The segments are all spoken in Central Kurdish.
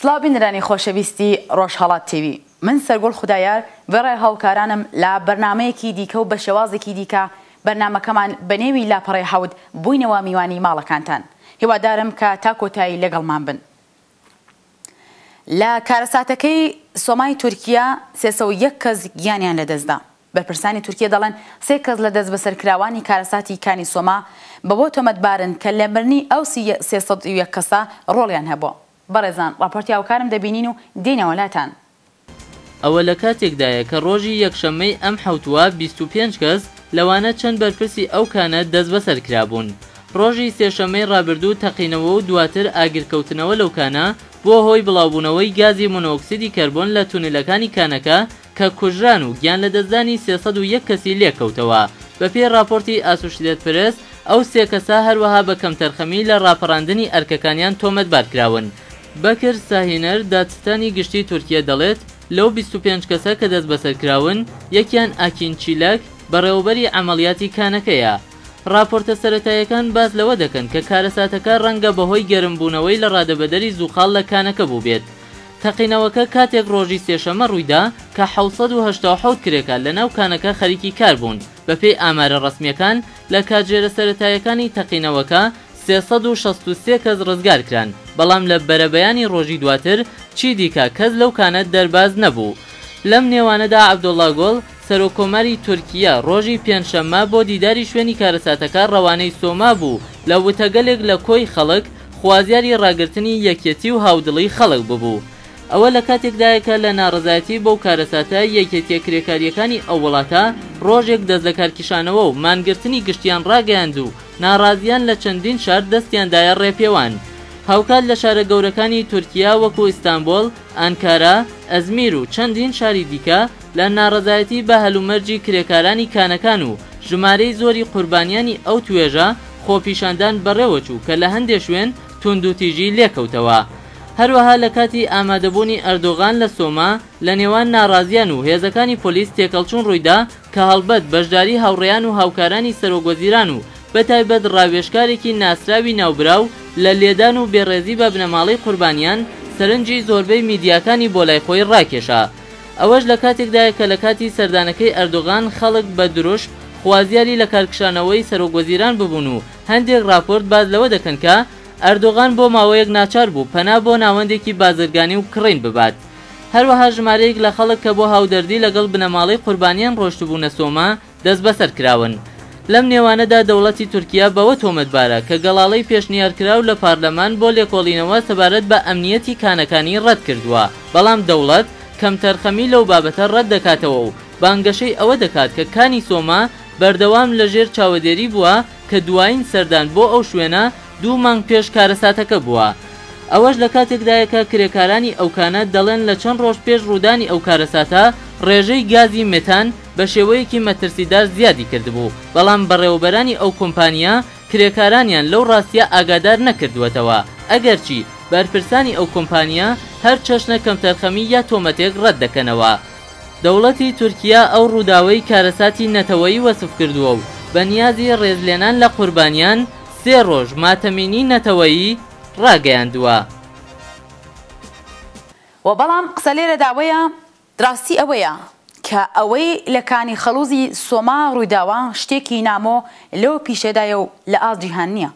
سلاو بینرانی خۆشەویستی ڕۆژهەڵات تیوی من سەرگوڵ خودایار بەڕێ هاوکارانم لە بەرنمەیەکی دیکە و بە شێوازێکی دیکە بەرنمەکەمان بە نێوی لاپەڕی حەوت بووینەوە میوانی ماڵەکانتان هیوادارم کە تا کۆتایی لەگەڵمان بن لە کارەساتەکەی سۆمای تورکیا سێ سەد و یەک کەس گیانیان لەدەستدا. بەرپرسانی تورکیە دەڵێن سێ کەس لە دەستبەسەرکراوانی کارەساتی کانی سۆما بەوە تۆمەتبارن کە لە مردنی ئەو سی سێ سەد و یەک کەسە ڕۆڵیان هەبووە. بەڕێزان ڕاپۆرتی هاوکارم دەبینین و دێینەوە لاتان. ئەوە لە کاتێکدایە کە ڕۆژی یەکشەممەی ئەم حەوتووە بیست و پێنج کەس لەوانە چەند بەرپرسی ئەو کانە دەستبەسەر کرابوون. ڕۆژی سێشەممەی ڕابردوو تەقینەوە و دواتر ئاگرکەوتنەوە لەو کانە بووە هۆی بڵاوبوونەوەی گازی مۆنۆکسیدی کەربۆن لە تونێلەکانی کانەکە کە کوژران و گیانلەدەستدانی سێ سەد و یەک کەسی لێکەوتەوە. بەپێی ڕاپۆرتی ئاسوشیدێت پرێس، ئەو سێ کەسە هەروەها بە کەمتەرخەمی لە ڕاپەڕاندنی ئەرکەکانیان تۆمەتبار کراون. بەکر ساهینەر، دادستانی گشتیی تورکیە دەڵێت، لەو بیست و پێنج کەسە کە دەستبەسەرکراون، یەکیان ئاکین چیلەک، بەڕێوەبەری عەمەڵیاتی کانەکەیە. راپۆرتە سەرەتاییەکان باس لەوە دەکەن کە کارەساتەکە رەنگە بەهۆی گەرمبوونەوەی لە رادەبەدەری زووخاڵ لە کانەکە بووبێت. تەقینەوەکە کاتێک رۆژی سێشەممە روویدا کە حەوت سەد و هەشتا و حەوت کرێکار لەناو کانەکە خەریکی کاربوون. بەپێی ئامارە ڕەسمییەکان، لە کاتژێرە سەرەتاییەکانی تەقینەوەکە سێ سەد و شەست و سێ کەس ڕزگارکران، بەڵام لە بەرەبەیانی ڕۆژی دواتر چیدیکە کەس لەو کانە دەرباز نەبوو. لەم نێوانەدا عەبدۆڵڵا گۆڵ، سەرۆککۆماری تورکییە ڕۆژی پێنجشەممە بۆ دیداری شوێنی کارەساتەکە ڕەوانەی سۆما بوو، لە وتەگەلێک لە کۆی خەڵک خوازیاری ڕاگرتنی یەکیەتی و هاودڵی خەڵک ببوو. ئەوە لە کاتێکدایە کە لە ناڕەزایەتی بەو کارەساتە، یەکێتیە کرێکاریەکانی ئەو وڵاتە ڕۆژێک دەست لەکارکیشانەوە و مانگرتنی گشتیان ڕاگەیاند و ناڕازیان لە چەندین شار دەستیان دایە ڕێپێوان. هاوکات لە شارە گەورەکانی تورکیا وەکو ئیستانبۆل، ئانکارا، ئەزمیر و چەندین شاری دیکە لە ناڕەزایەتی بە هەلومەرجی کرێکارانی کانەکان و ژمارەی زۆری قوربانیانی ئەو توێژە خۆپیشاندان بەڕێوەچوو کە لە هەندێ شوێن توندوتیژی لێکەوتەوە. هەروەها لە کاتی ئامادەبوونی ئەردۆغان لە سۆما، لە نێوان ناڕازییان و هێزەکانی پۆلیس تێکەڵچوون ڕوویدا کە هەڵبەت بەشداری هاوڕێیان و هاوکارانی سەرۆک وەزیران و بە تایبەت ڕاوێژکارێکی ناسراوی ناوبراو لە لێدان و بێڕێزی بە بنەماڵەی قوربانیان سەرنجی زۆربەی میدیاکانی بۆ لای خۆی ڕاکێشا. ئەوەش لە کاتێکدایە کە لە کاتی سەردانەکەی ئەردۆغان خەڵک بە دروشم خوازیاری لەکارکشانەوەی سەرۆک وەزیران ببوون و هەندێک ڕاپۆرت باس لەوە دەکەن کە ئەردۆغان بۆ ماوەیەک ناچار بوو پەنا بۆ ناوەندێکی بازرگانی و کڕین ببات. هەروەها ژمارەیەک لە خەڵک کە بۆ هاودەردی لەگەڵ بنەماڵەی قوربانییان ڕۆشتبوونە سۆما، دەستبەسەر کراون. لەم نێوانەدا دەوڵەتی تورکیا بەوە تۆمەتبارە کە گەڵاڵەی پێشنیارکراو لە پارلەمان بۆ لێکۆڵینەوە سەبارەت بە ئەمنییەتی کانەکانی ڕەت کردووە، بەڵام دەوڵەت کەمتەرخەمی لەو بابەتە ڕەت دەکاتەوە و بانگەشەی ئەوە دەکات کە کانی سۆما بەردەوام لەژێر چاوەدێری بووە کە دوایین سەردان بۆ ئەو شوێنە دوو مانگ پێش کارەساتەکە بووە. ئەوەش لە کاتێکدایە کە کرێکارانی ئەو کانە دەڵێن لە چەند ڕۆژ پێش ڕوودانی ئەو کارەساتە ڕێژەی گازی مێتان بە شێوەیەکی مەترسیدار زیادی کردبوو، بەڵام بەڕێوەبەرانی ئەو کۆمپانییە کرێکارانیان لەو ڕاستییە ئاگادار نەکردووەتەوە، ئەگەرچی بەرپرسانی ئەو کۆمپانییە هەر چەشنە کەمتەرخەمی یا تۆمەتێک ڕەت دەکەنەوە. دەوڵەتی تورکیا ئەو ڕووداوەی کارەساتی نەتەوەیی وەسف کردووە و بە نیازی ڕێزلێنان لە قوربانیان، سێ ڕۆژ ماتەمینی نەتەوەیی ڕاگەیاندووە. وە بەڵام قسە لێرەدا وەیە ڕاستی ئەوەیە کە ئەوەی لە کانی خەڵوزی سۆما ڕوویداوە شتێکی نامۆ لەو پیشەدایە و لە ئاست جیهان نیە.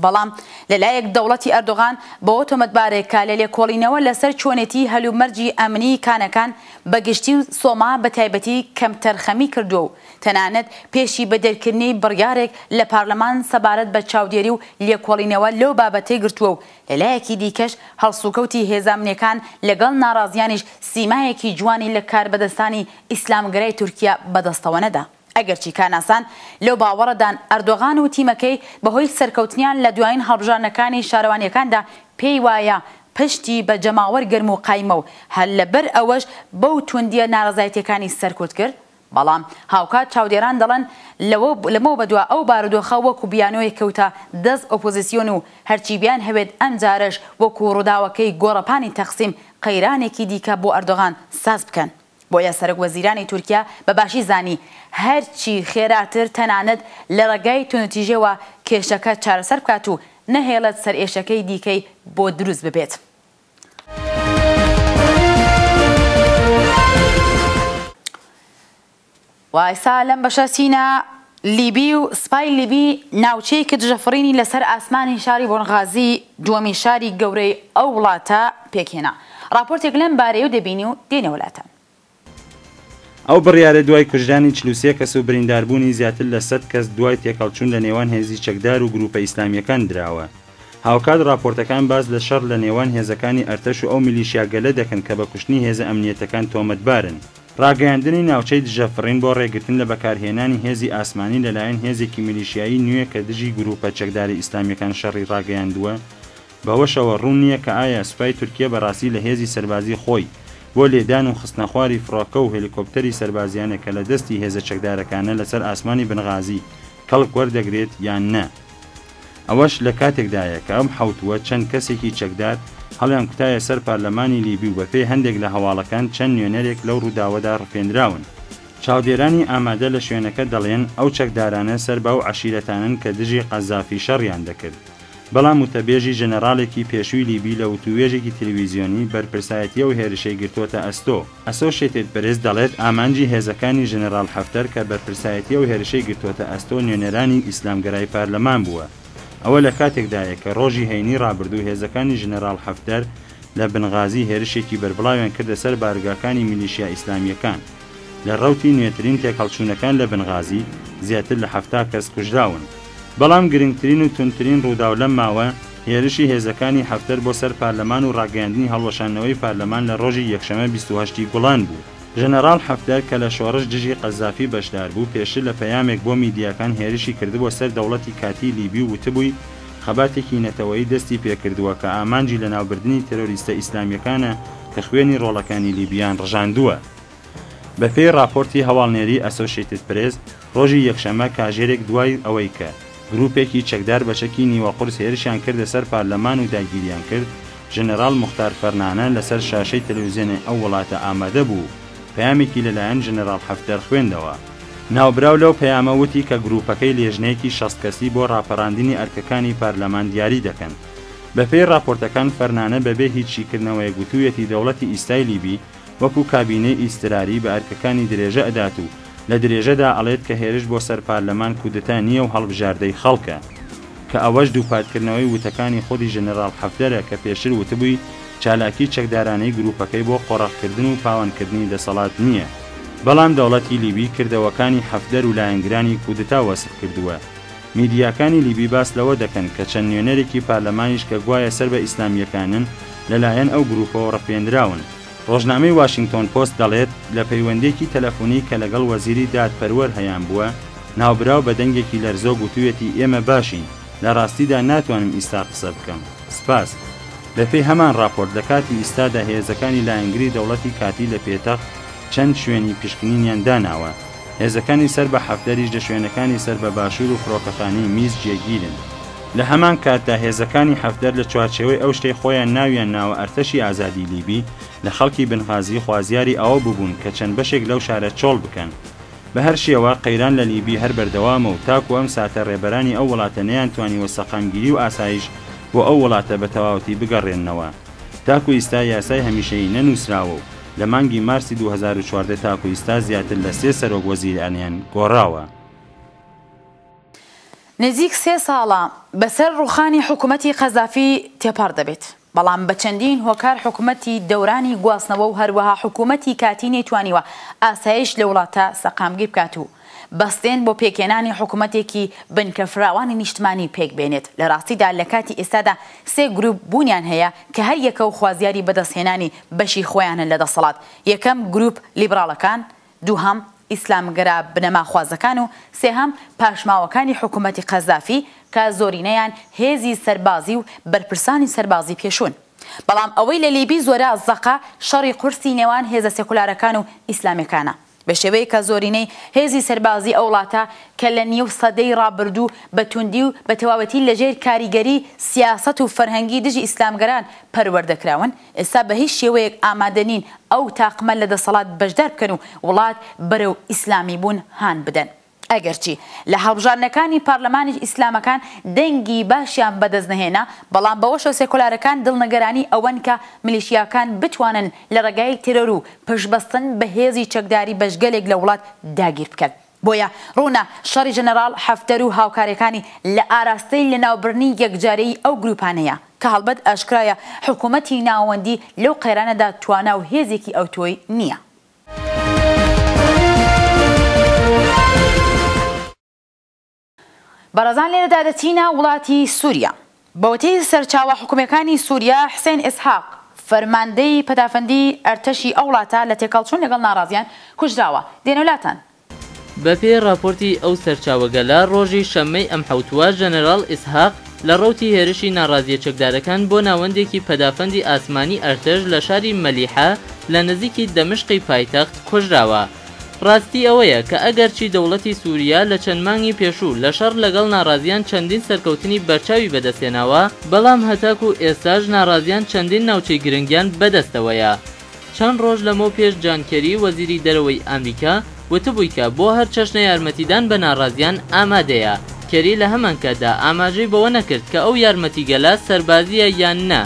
بەڵام لە لایەک دەوڵەتی ئەردۆغان بەوە تۆمەتبارە کە لە لێکۆڵینەوە لە سەر چۆنێتیی هەلومەرجی ئەمنیی کانەکان بە گشتی و سۆما بە تایبەتی کەمتەرخەمی کردووە و تەنانەت پێشی بە دەرکردنی بڕیارێک لە پارلەمان سەبارەت بە چاودێری و لێکۆڵینەوە لەو بابەتەی گرتووە و لە لایەکی دیکەش هەڵسوکەوتی هێزامنییەکان لە گەڵ ناڕازییانیش سیمایەکی جوانی لە کاربەدەستانی ئیسلامگەرای تورکیا بە دەستەوە نەدا. ئەگەرچی کارناسان لەو باوەڕەدان ئەردۆغان و تیمەکەی بەهۆی سەرکەوتنیان لە دوایین هەڵبژاردنەکانی شارەوانییەکاندا پێی وایە پشتی بە جەماوەر گەرم و قایمە و هەر لەبەر ئەوەش بەو تووندییە نارەزایتییەکانی سەرکوت کرد بەڵام هاوکات چاودێران دەڵێن لەوە لەمەو بەدوا ئەو بارودۆخە وەکو بیانۆیەک کەوتە دەست ئۆپۆزیسیۆن و هەرچی بیانهەوێت ئەمجارەش وەکو ڕووداوەکەی گۆڕەپانی تەقسیم قەیرانێکی دیکە بۆ ئەردۆغان ساز بکەن. بۆیە سەرۆک وەزیرانی تورکیا بە باشی زانی هەرچی خێراتر تەنانەت لە ڕێگای توندوتیژیەوە کێشەکە چارەسەر بکات و نەهێڵێت سەرئێشەکەی دیکەی بۆ دروست ببێت. وە ئێستا لەم بەشە چینە لیبی و سپای لیبی ناوچەیەکی دژەفڕینی لەسەر ئاسمانی شاری بونغازی دووەمین شاری گەورەی ئەو وڵاتە پێکهێنا. ڕاپۆرتێک لەم بارەیەو دەبینی و دێنەوە لاتان. ئەو بڕیارە دوای کوژرانی چل و سێ کەس و برینداربوونی زیاتر لە سەد کەس دوای تێکهەڵچوون لە نێوان هێزی چەکدار و گرووپە ئیسلامییەکان دراوە. هاوکات ڕاپۆرتەکان باس لە شەڕ لە نێوان هێزەکانی ئەرتەش و ئەو میلیشیا گەلە دەکەن کە بە کوشتنی هێزە ئەمنییەتەکان تۆمەتبارن. ڕاگەیاندنی ناوچەی دژەفڕین بۆ ڕێگرتن لە بەکارهێنانی هێزی ئاسمانی لەلایەن هێزێکی میلیشیایی نوێ کە دژی گرووپە چەکدارە ئیسلامییەکان شەڕی ڕاگەیاندووە، بەوەشەوە ڕوون نییە کە ئایا سوپای تورکیە بەڕاستی لە هێزی سەربازیی خۆی بۆ لێدان و خستنەخواری فڕۆکە و هێلیکۆپتەری سەربازییانە کە لە دەستی هێزە چەکدارەکانە لەسەر ئاسمانی بنغازی کەڵک وەردەگرێت یان نە. ئەوەش لە کاتێکدایە کە ئەم حەوتووە چەند کەسێکی چەکدار هەڵیانکوتایە سەر پارلەمانی لیبی و بەپێی هەندێک لە هەواڵەکان چەند نوێنەرێک لەو ڕووداوەدا ڕفێندراون. چاودێرانی ئامادە لە شوێنەکە دەڵێن ئەو چەکدارانە سەر بە ئەو عەشیرەتانەن کە دژی قەزافی شەڕیان دەکرد. بەڵام وتەبێژی ژەنەڕاڵێکی پێشووی لیبی لە وتووێژێکی تلویزیۆنی بەرپرسایەتی ئەو هێرشەی گرتووەتە ئەستۆ. ئەسۆشێتێد پرێس دەڵێت ئامانجی هێزەکانی ژەنەراڵ حەفتەر کە بەرپرسایەتی ئەو هێرشەی گرتووەتە ئەستۆ نوێنەرانی ئیسلامگەرای پارلەمان بووە. ئەوە لە کاتێکدایە کە ڕۆژی هەینی ڕابردوو هێزەکانی ژەنەراڵ حەفتەر لە بنغازی هێرشێکی بەربڵاویان کردە سەر بارگاکانی میلیشیا ئیسلامییەکان. لە ڕەوتی نوێترین تێکهەڵچوونەکان لە بنغازی زیاتر لە حەفتا کەس کوژراون. بەڵام گرنگترین و توندترین ڕووداو لەم ماوە، هێرشی هێزەکانی حەفتەر بۆ سەر پارلەمان و ڕاگەیاندنی هەڵوەشاندنەوەی پارلەمان لە ڕۆژی یەکشەممە بیست و هەشت ی گوڵان بوو. ژەنەڕاڵ حەفتەر کە لە شۆڕش دژی قەزافی بەشدار بوو، پێشتر لە پەیامێک بۆ میدیاکان هێرشی کردبووە سەر دەوڵەتی کاتیی لیبی و وتبووی خەباتێکی نەتەوەیی دەستی پێ کردووە کە ئامانجی لەناوبردنی تێرۆریستە ئیسلامییەکانە کە خوێنی ڕۆڵەکانی لیبییان ڕژاندووە. بەپێی ڕاپۆرتی هەواڵنێری ئەسۆشیتد پرێس، ڕۆژی یەکشەممە کاژێرێک دوای ئەوەی کە گرووپێکی چەکدار بە چەکی نیوە قورس هێرشیان کردە سەر پارلەمان و داگیریان کرد، ژەنەراڵ موختار فەرنانە لەسەر شاشەی تەلەوزیۆنێ ئەو وڵاتە ئامادە بوو و پەیامێکی لەلایەن ژەنەراڵ حەفتەر خوێندەوە. ناوبراو لەو پەیامە وتی کە گرووپەکەی لێژنەیەکی شەست کەسی بۆ ڕاپەڕاندنی ئەرکەکانی پارلەمان دیاری دەکەن. بەپێی ڕاپۆرتەکان فەرنانە بەبێ هیچ شیکردنەوەیەک وتوویەتی دەوڵەتی ئیستای لیبی وەکو کابینەی ئیستراری بە ئەرکەکانی درێژە ئەدات و لە درێژەدا ئەڵێت کە هێرش بۆ سەر پارلەمان کودەتا نییە و هەڵبژاردەی خەڵکە کە ئەوەش دووپاتکردنەوەی وتەکانی خودی ژەنەراڵ حەفتەرە کە پێشتر وتبووی چالاکی چەکدارانەی گروپەکەی بۆ قۆڕەخکردن و پاوەنکردنی دەسەڵات نییە بەڵام دەوڵەتی لیبی کردەوەکانی حەفتەر و لایەنگرانی کودەتا وەسف کردووە. میدیاکانی لیبی باس لەوە دەکەن کە چەند نوێنەرێکی پارلەمانیش کە گوایە سەر بە ئیسلامییەکانن لەلایەن ئەو گرووپەوە ڕفێندراون. ڕۆژنامەی واشینگتۆن پۆست دەڵێت، لە پەیوەندییەکی تەلەفۆنی کە لەگەڵ وەزیری دادپەروەر هەیانبووە، ناوبراو بە دەنگێکی لەرزۆک وتوویەتی ئێمە باشین، لە ڕاستیدا ناتوانم ئیستا قسە بکەم. سپاس. بەپێی هەمان ڕاپۆرت، لە کاتی ئیستادا هێزەکانی لایەنگری دەوڵەتی کاتی لە پێتەخت چەند شوێنی پشکنینیان داناوە. هێزەکانی سەر بە حەفدەریش لە شوێنەکانی سەر بە باشوور و فڕۆکەخانەی میز جێگیرن. لە هەمان کاتدا هێزەکانی حەفدەر لە چوارچێوەی ئەو شتەی خۆیان ناویان ناوە ئەرتەشی ئازادی لیبی لە خەڵکی بنغازی خوازیاری ئەوە ببوون کە چەند بەشێک لەو شارە چۆڵ بکەن. بە هەر شێوە، قەیران لە لیبی هەر بەردەوامە و تاکوو ئەم ساتە ڕێبەرانی ئەو وڵاتە نەیانتوانیوە سەقامگیری و ئاسایش بۆ ئەو وڵاتە بە تەواوەتی بگەڕێننەوە. تاکوو ئیستا یاسای هەمیشەیی نەنووسراوە و لە مانگی مارسی دوو هەزار و چواردە تاکو ئیستا زیاتر لە سێ سەرۆک وەزیرانیان گۆڕاوە. نزیک سێ ساڵە بەسەر ڕووخانی حکومەتی قەزافی تێپەڕ دەبێت، بەڵام بە چەندین هۆکار حکومەتی دەورانی گواستنەوە و هەروەها حکومەتی کاتی نەیتوانیوە ئاسایش لە وڵاتە سەقامگیر بکات و بەستێن بۆ پێکهێنانی حکومەتێکی بنکە فراوانی نیشتمانی پێکبێنێت، لە ڕاستیدا لە کاتی ئێستادا سێ گروپ بوونیان هەیە کە هەر یەکەو خوازیاری بەدەستهێنانی بەشی خۆیانن لە دەسەڵات، یەکەم گروپ لیبراڵەکان، دووهەم ئیسلامگەرا بنەماخوازەکان و سێهەم پاشماوەکانی حکومەتی قەزافی کە زۆرینەیان هێزی سەربازی و بەرپرسانی سەربازی پێشوون. بەڵام ئەوەی لە لیبی زۆرە زەقە شەڕی قورسی نێوان هێزە سێکولارەکان و ئیسلامیەکانە. بە شێوەیەک کە زۆرینەی هێزی سەربازیی ئەو وڵاتە کە لە نیو سەدەی ڕابردوو بە توندی و بە تەواوەتی لە ژێر کاریگەریی سیاسەت و فەرهەنگی دژی ئیسلامگەران پەروەردە کراون، ئێستا بە هیچ شێوەیەک ئامادە نین ئەو تاقمە لە دەسەڵات بەشدار بکەن و وڵات بەرەو ئیسلامیبوون هان بدەن. ئەگەرچی لە هەڵبژاردنەکانی پارلەمانیش ئیسلامەکان دەنگی باشیان بەدەست نەهێنا، بەڵام بەوەشەوە سێکۆلارەکان دڵنەگەرانی ئەوەن کە ملیشیاکان بتوانن لە ڕێگای تێرۆر و پشتبەستن بە هێزی چەکداری بەشگەلێک لە وڵات داگیر بکەن. بۆیە ڕوونە شەڕی ژەنەراڵ حەفتەر و هاوکارەکانی لە ئاراستەی لەناوبرنی یەکجارەیی ئەو گروپانەیە، کە هەڵبەت ئاشکرایە حکومەتی ناوەندی لەو قەیرانەدا توانا و هێزێکی ئەوتۆی نییە. بەڕێزان لێرەدا دەچینە وڵاتی سوریا. بەوتەی سەرچاوە حکومیەکانی سوریا، حسێن ئیسحاق، فەرماندەی پەدافەندی ئەرتەشی ئەو وڵاتە لە تێکهەڵچوون لەگەڵ ناڕازیان کوژراوە. دێنەلاتان. بەپێی ڕاپۆرتی ئەو سەرچاوەگەلە، ڕۆژی شەممەی ئەم حەوتووە، ژەنەراڵ ئیسحاق لە ڕەوتی هێرشی ناڕازییە چەکدارەکان بۆ ناوەندێکی پەدافەندی ئاسمانی ئەرتەش لە شاری مەلیحە لە نزیکی دەمشقی پایتەخت کوژراوە. ڕاستی ئەوەیە کە ئەگەرچی دەوڵەتی سوریا لە چەند مانگی پێشوو لە شەڕ لەگەڵ ناڕازییان چەندین سەرکەوتنی بەرچاوی بەدەستهێناوە، بەڵام هەتاکوو ئێستاش ناڕازییان چەندین ناوچەی گرنگیان بەدەستەوەیە. چەند ڕۆژ لەمەو پێش جان کێری وەزیری دەرەوەی ئامریکا وتبووی کە بۆ هەر چەشنە یارمەتیدان بە ناڕازیان ئامادەیە، کێری لە هەمانکاتدا ئاماژەی بەوە نەکرد کە ئەو یارمەتیگەلە سەربازییە یان نا.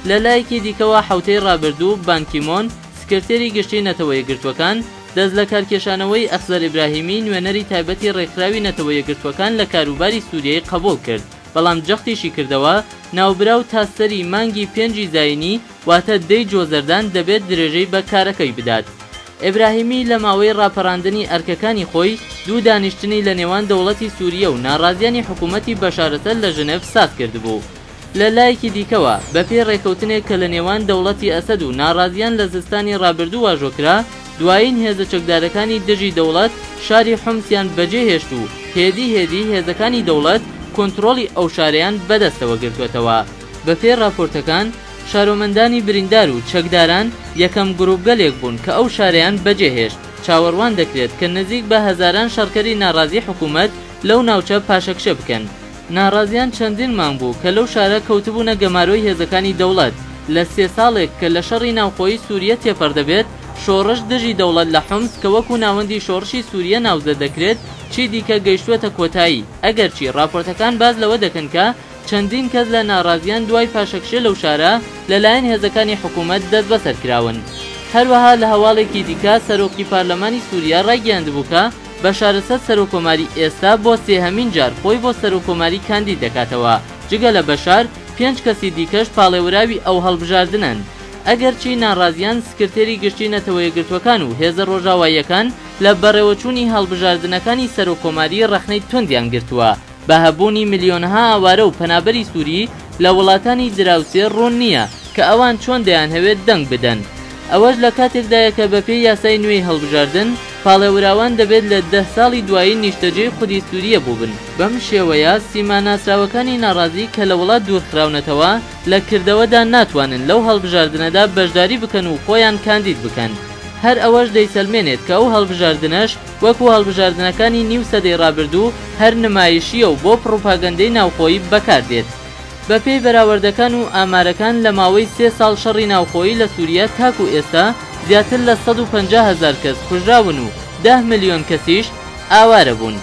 لە لایەکی دیکەوە حەوتەی ڕابردوو بان کی مۆن سکرتێری گشتی نەتەوە یەکگرتووەکان دەست لە کارکێشانەوەی ئەخزەر ئیبراهیمی نوێنەری تایبەتی ڕێکخراوی نەتەوە یەکگرتووەکان لە کاروباری سووریەی قەبووڵ کرد بەڵام جەختیشی کردەوە ناوبراو تا سەری مانگی پێنجی زاینی واتە دەی جۆزەردان دەبێت درێژەی بە کارەکەی بدات. ئێبراهیمی لە ماوەی ڕاپەڕاندنی ئەرکەکانی خۆی، دوو دانیشتنی لە نێوان دەوڵەتی سووریە و ناڕازییانی حکوومەتی بەشارەسەد لە ژنێڤ ساز کردبوو. لە لایەکی دیکەوە، بە پێی ڕێککەوتنێک کە لە نێوان دەوڵەتی ئەسەد و ناڕازییان لە زستانی ڕابردوو واژۆ کرا، دوایین هێزە چەکدارەکانی دژی دەوڵەت شاری حومسیان بەجێ هێشت و هێدی هێدی هێزەکانی دەوڵەت کۆنترۆڵی ئەو شارەیان بە دەستەوە گرتووەتەوە. بەپێی ڕاپۆرتەکان، شارۆمەندانی بریندار و چەکداران یەکەم گرووپگەلێک بوون کە ئەو شارەیان بەجێهێشت، چاوەڕوان دەکرێت کە نزیک بە هەزاران شەڕکەری ناڕازی حکوومەت لەو ناوچە پاشەکشە بکەن. ناڕازییان چەندین مانگ بوو کە لەو شارە کەوتبوونە گەمارۆی هێزەکانی دەوڵەت، لە سێ ساڵێک کە لە شەڕی ناوخۆیی سووریە تێپەڕ دەبێت، شۆڕش دژی دەوڵەت لە حومس کە وەکوو ناوەندی شۆڕشی سووریە ناوزەد دەکرێت، چیدیکە گەیشتووەتە کۆتایی، ئەگەرچی ڕاپۆرتەکان باس لەوە دەکەن کە، چەندین کەس لە ناڕازییان دوای پاشەکشێ لەو شارە لەلایەن هێزەکانی حکوومەت دەستبەسەر کراون. هەروەها لە هەواڵێکی دیکە سەرۆکی پارلەمانی سووریا ڕایگەیاندبوو کە بەشار ئەسەد سەرۆککۆماری ئێستا بۆ سێهەمین جار خۆی بۆ سەرۆککۆماری کاندید دەکاتەوە، جگە لە بەشار پێنج کەسی دیکەش پاڵێوراوی ئەو هەڵبژاردنەن. ئەگەرچی ناڕازییان سکرتێری گشتی نەتەوەیەکگرتووەکان و هێزە ڕۆژاواییەکان لە بەڕێوەچوونی هەڵبژاردنەکانی سەرۆککۆماری ڕەخنەی توندیان گرتووە، بە هەبوونی ملیۆنەها ئاوارە و پەنابەری سووری لە وڵاتانی دراوسێ، ڕوون نییە کە ئەوان چۆن دەیانهەوێت دەنگ بدەن. ئەوەش لە کاتێکدایە کە بەپێی یاسای نوێی هەڵبژاردن، پاڵێوراوان دەبێت لە دە ساڵی دوایی نیشتەجێی خودی سووریە بووبن. بەم شێوەیە سیما ناسراوەکانی ناڕازی کە لە وڵات دوورخراونەتەوە، لە کردەوەدا ناتوانن لەو هەڵبژاردنەدا بەشداری بکەن و خۆیان کاندید بکەن. هەر ئەوەش دەیسەلمێنێت کە ئەو هەڵبژاردنەش، وەکو هەڵبژاردنەکانی نیو سەدەی ڕابردوو هەر نمایشییە و بۆ پڕوپاگەندەی ناوخۆیی بەکاردێت. بەپێی بەراوەردەکان و ئامارەکان لە ماوەی سێ ساڵ شەڕی ناوخۆیی لە سووریە تاکو ئێستا زیاتر لە سەد و پەنجا هەزار کەس کوژراون و دە ملیۆن کەسیش ئاوارەبوون.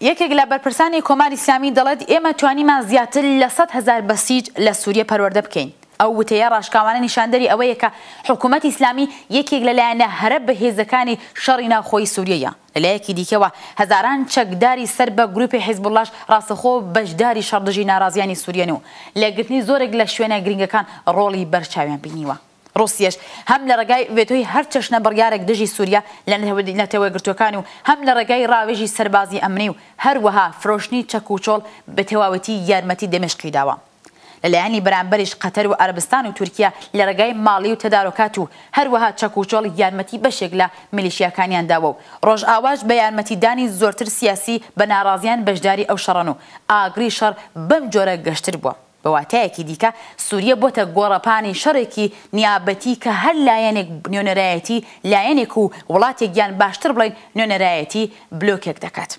یەکێک لە بەرپرسانی کۆماری ئیسلامی دەڵێت، ئێمە توانیمان زیاتر لە سەد هەزار بەسیج لە سووریە پەروەردە بکەین. ئەو وتەیە ڕاشکاوانە نیشاندەری ئەوەیە کە حکوومەتی ئیسلامی یەکێک لە لایەنە هەرە بەهێزەکانی شەڕی ناوخۆی سووریەیە. لە لایەکی دیکەوە، هەزاران چەکداری سەر بە گرووپی حیزبوڵڵاش ڕاستەخۆ بەشداری شەڕ دژی ناڕازییانی سووریەن و لە گرتنی زۆرێک لە شوێنە گرینگەکان ڕۆڵی بەرچاویان بینیوە. ڕوسیەش هەم لە ڕێگای ڤێتۆی هەر چەشنە بڕیارێک دژی سوریا لە نەتەوەیەکگرتووەکان و هەم لە ڕێگای ڕاوێژی سەربازی ئەمنی و هەروەها فرۆشتنی چەک و چۆڵ بە تەواوەتی یارمەتی دەمێشقی داوە. لە لایەنی بەرامبەریش قەتەر و عەرەبستان و تورکیە لە ڕێگای ماڵی و تەدارۆکات و هەروەها چەک و چۆڵ یارمەتی بەشێک لە میلیشیاکانیان داوە و ڕۆژئاواش بە یارمەتی دانی زۆرتر سیاسی بە ناڕازیان بەشداری ئەو شەڕەن و ئاگری شەڕ بەم جۆرە گەشتر بووە. بە واتایەکی دیکە سووریە بۆتە گۆڕەپانی شەڕێکی نیابەتی کە هەر لایەنێک نوێنەرایەتی لایەنێک و وڵاتێک یان باشتر بڵێین نوێنەرایەتی بلۆکێک دەکات.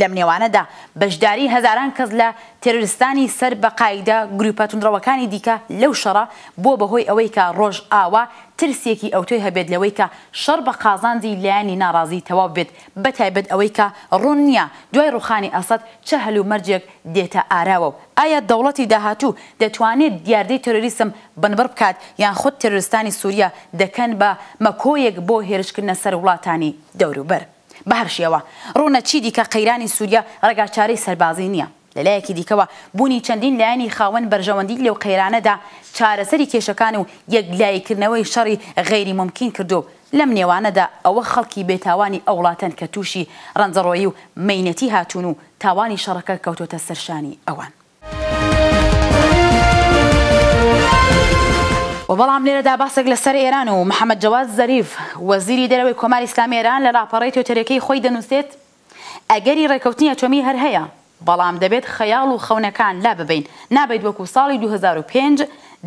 لەم نێوانەدا بەشداری هەزاران کەس لە تێرۆریستانی سەر بە قاعیدە گرووپە توندڕەوەکانی دیکە لەو شەڕە بووە بە هۆی ئەوەی کە ڕۆژئاوا ترسێکی ئەوتۆی هەبێت لەوەی کە شەڕ بە قازانجی لایەنی ناڕازی تەواو بێت بە تایبەت ئەوەی کە ڕوون نییە دوای ڕووخانی ئەسەد چ هەلومەرجێک دێتە ئاراوە و ئایا دەوڵەتی داهاتوو دەتوانێت دیاردەی تێرۆریسم بنبڕ بکات یان خود تێرۆریستانی سووریە دەکەن بە مەکۆیەک بۆ هێرشکردنە سەر وڵاتانی دەوروبەر؟ بەهەر شێوە ڕوونە چیدیکە قەیرانی سووریە ڕێگاچارەی سەربازی نییە. لە لایەکی دیکەوە بوونی چەندین لایەنی خاوەن بەرژەوەندی لەو قەیرانەدا چارەسەری کێشەکان و یەکلاییکردنەوەی شەڕی غەیری مومکین کردووە و لەم نێوانەدا ئەوە خەڵکی بێتاوانی ئەو وڵاتەن کە تووشی ڕەنجەڕۆیی و مەینەتی هاتوون و تاوانی شەڕەکە کەوتۆتە سەر شانی ئەوان. وە بەڵام لێرەدا باسێک لە سەر ئێران و محمد جەواد زەریف وەزیری دەرەوەی کۆماری ئیسلامی ئێران لە لاپەڕەی توێتەرێکەی خۆی دەنووسێت ئەگەری ڕێکەوتنی ئەتۆمی هەر هەیە بەڵام دەبێت خەیاڵ و خەونەکان لاببەین نابێت وەکو ساڵی دوو هەزار و پێنج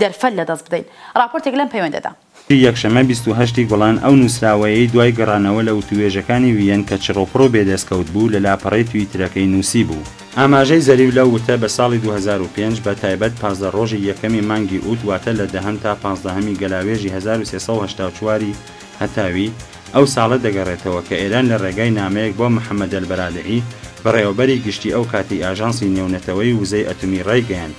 دەرفەت لە دەست بدەین ڕاپۆرتێک لەم پەیوەندەدا ی یەکشەممە بیست و هەشت ی گوڵان ئەو نووسراوەیەی دوای گەڕانەوە لە وتووێژەکانی وییەن کە چڕوپڕ و بێدەستکەوت بوو لە لاپەڕەی تویترەکەی نووسیبوو. ئاماژەی زەریو لەو وتە بە ساڵی دوو هەزار و پێنج بە تایبەت پازدە ڕۆژی یەکەمی مانگی ئووت واتە لە دەهەم تا پازدەهەمی گەلاوێژی هەزار و سێ سەد و هەشتا و چوار ی هەتاوی ئەو ساڵە دەگەڕێتەوە کە ئێران لە ڕێگای نامەیەک بۆ محەمەدەلبەرادعی بەڕێوەبەری گشتی ئەو کاتەی ئاژانسی نێونەتەوەی وزەی ئەتومی ڕایگەیاند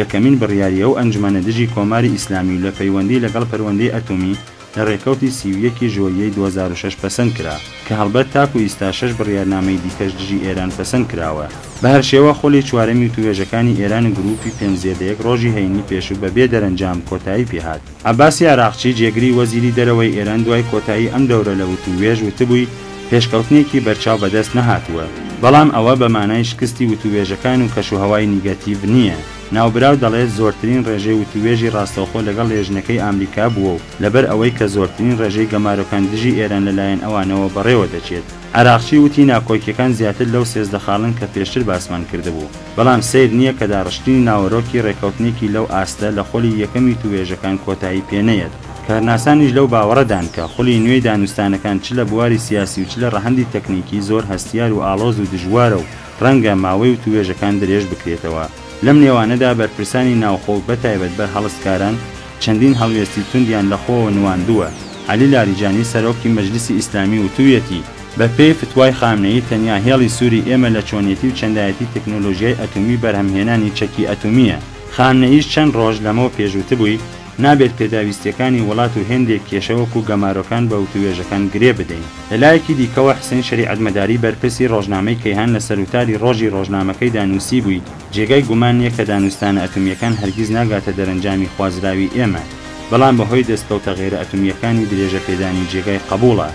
یەکەمین بڕیاری ئەو ئەنجومەنە دژی کۆماری ئیسلامی و لە پەیوەندی لەگەڵ پەروەندەی ئەتۆمی لە رێکەوتی سی و یەک ی ژۆریەی دوو هەزار و شەش پەسەند کرا کە هەڵبەت تاکو ئیستا شەش بڕیارنامەی دیکەش دژی ئێران پەسەند کراوە. بە هەر شێوە خولی چوارەمی وتووێژەکانی ئێران و گرووپی پێنج زێدە یەک رۆژی هەینی پێشوو بە بێ دەرەنجام کۆتایی پێهات. عەباسی عەراقچی جێگری وەزیری دەرەوەی ئێران دوای کۆتایی ئەم دەورە لە وتووێژ وتبووی پێشکەوتنێکی بەرچاو بەدەست نەهاتووە، بەڵام ئەوە بە مانای شکستی وتووێژەکان و کەشوهەوای نیگەتیڤ نییە. ناوبراو دەڵێت زۆرترین ڕێژەی وتووێژی ڕاستەوخۆ لەگەڵ لێژنەکەی ئامریکا بووە و لەبەر ئەوەی کە زۆرترین ڕێژەی گەمارۆکان دژی ئێران لە لایەن ئەوانەوە بەڕێوە دەچێت. عەراقچی وتی ناکۆکییەکان زیاتر لەو سێزدە خاڵەن کە پێشتر باسمان کردبوو. بەڵام سەیر نییە کە داڕشتنی ناوەرۆکی ڕێککەوتنێکی لەو ئاستە لە خولی یەکەمی توێژەکان کۆتایی پێ نەیەت. کارناسانیش لەو باوەڕەدان کە خولی نوێی دانوستانەکان چ لە بواری سیاسی و چ لە ڕەهەندی تەکنیکی زۆر هەستیار و ئاڵۆز و دژوارە و ڕەنگە ماوەی و توێژەکان درێژ بکرێتەوە. لەم نێوانەدا بەرپرسانی ناوخۆ و بە تایبەت بەرهەڵستکاران چەندین هەڵوێستی توندیان لە خۆوە نواندووە. عەلی لاریجانی سەرۆکی مەجلیسی ئیسلامی وتوویەتی، بە پێی فتوای خامنەیی تەنیا هێڵی سووری ئێمە لە چۆنیەتی و چەندایەتی تەکنۆلۆژیای ئەتومی بەرهەم هێنانی چەکی ئەتومییە. خامنەییش چەند ڕۆژ لەمەو پێش وتبووی، نابێت پێداویستیەکانی وڵات و هێندێک کێشە وەکو گەمارۆکان بە وتووێژەکان گرێ بدەین. لە لایەکی دیکەوە حسین شەریعەتمەداری بەرپرسی ڕۆژنامەی کەیهان لە سەروتاری ڕۆژی ڕۆژنامەکەیدا نووسیبووی، جێگای گومان نیە کە دانوستانە ئەتومییەکان هەرگیز ناگاتە دەرەنجامی خوازراوی ئێمە، بەڵام بە هۆی دەستکەوتە غەیرە ئەتومییەکانی درێژە پێدانی جێگای قەبوڵە.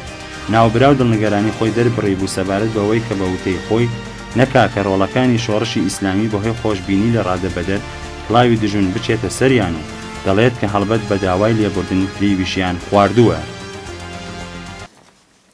ناوبراو دڵنگرانی خۆی دەربڕیبوو سەبارەت بەوەی کە بە وتەی خۆی، نە کاکە رۆڵەکانی شۆڕشی ئیسلامی بەهۆی خۆشبینی لە رادەبەدەر کڵاوی دژون بچێتە سەریان و دەڵێت کە هەڵبەت بە داوای لێبوردن فریویشیان خواردووە.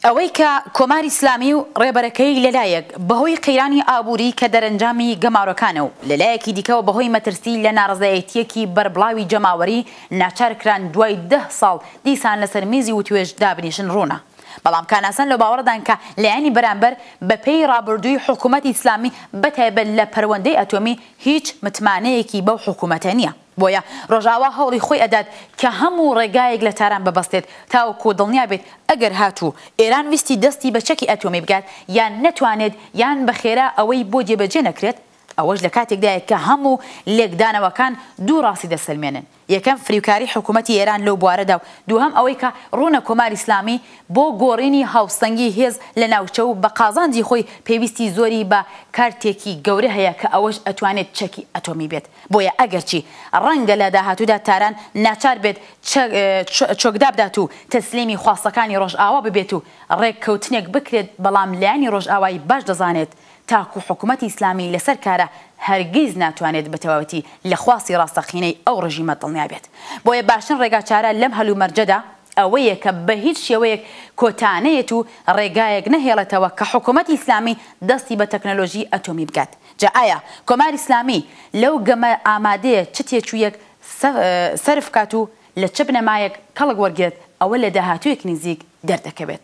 ئەوەی کە کۆماری ئیسلامی و رێبەرەکەی لە لایەک بەهۆی قەیرانی ئابووری کە دەرەنجامی گەمارۆکانە و لە لایەکی دیکەوە بەهۆی مەترسی لە نارەزایەتییەکی بەربڵاوی جەماوەری ناچار کران دوای دە ساڵ دیسان لەسەر میزی وتوێژ دابنیشن ڕوونە بەڵام کاناسان لەو باوەڕەدان کە لایەنی بەرامبەر بە پێی ڕابردووی حکوومەتی ئیسلامی بە تایبەت لە پەروەندەی ئەتۆمی هیچ متمانەیەکی بەو حکوومەتە نییە بۆیە ڕۆژاوا هەوڵی خۆی ئەدات کە هەموو ڕێگایەک لە تاران ببەستێت تاوەکوو دڵنیا بێت ئەگەر هاتوو ئێران ویستی دەستی بە چەکی ئەتۆمی بگات یان نەتوانێت یان بە خێرا ئەوەی بۆ جێبەجێ نەکرێت ئەوەش لە کاتێکدایە کە هەموو لێکدانەوەکان دوو ڕاستی دەسەلمێنن، یەکەم فریوکاری حکوومەتی ئێران لەو بوارەدا و دووهەم ئەوەی کە ڕوونە کۆماری ئیسلامی بۆ گۆڕینی هاوسەنگی هێز لە ناوچە و بە قازانجی خۆی پێویستی زۆری بە کارتێکی گەورە هەیە کە ئەوەش ئەتوانێت چەکی ئەتۆمی بێت بۆیە ئەگەرچی ڕەنگە لە داهاتوودا تاران ناچار بێت چۆکدابدات و تەسلیمی خواستەکانی ڕۆژئاوا ببێت و ڕێککەوتنێک بکرێت بەڵام لایەنی ڕۆژئاوای باش دەزانێت تاکو حکومەتی ئیسلامی لەسەر کارە هەرگیز ناتوانێت بە تەواوەتی لە خواستی ڕاستەقینەی ئەو ڕژیمە دڵنیا بێت. بۆیە باشترین ڕێگاچارە لەم هەلومەرجەدا ئەوەیە کە بە هیچ شێوەیەک کۆتا نەیەت و ڕێگایەک نەهێڵێتەوە کە حکومەتی ئیسلامی دەستی بە تەکنەلۆژی ئەتۆمی بگات. جا ئایا کۆماری ئیسلامی لەو گەمە ئامادەیە چ تێچوویەک سەرف بکات و لە چ بنەمایەک کەڵک وەرگرێت ئەوە لە داهاتوویەکی نزیک دەردەکەوێت.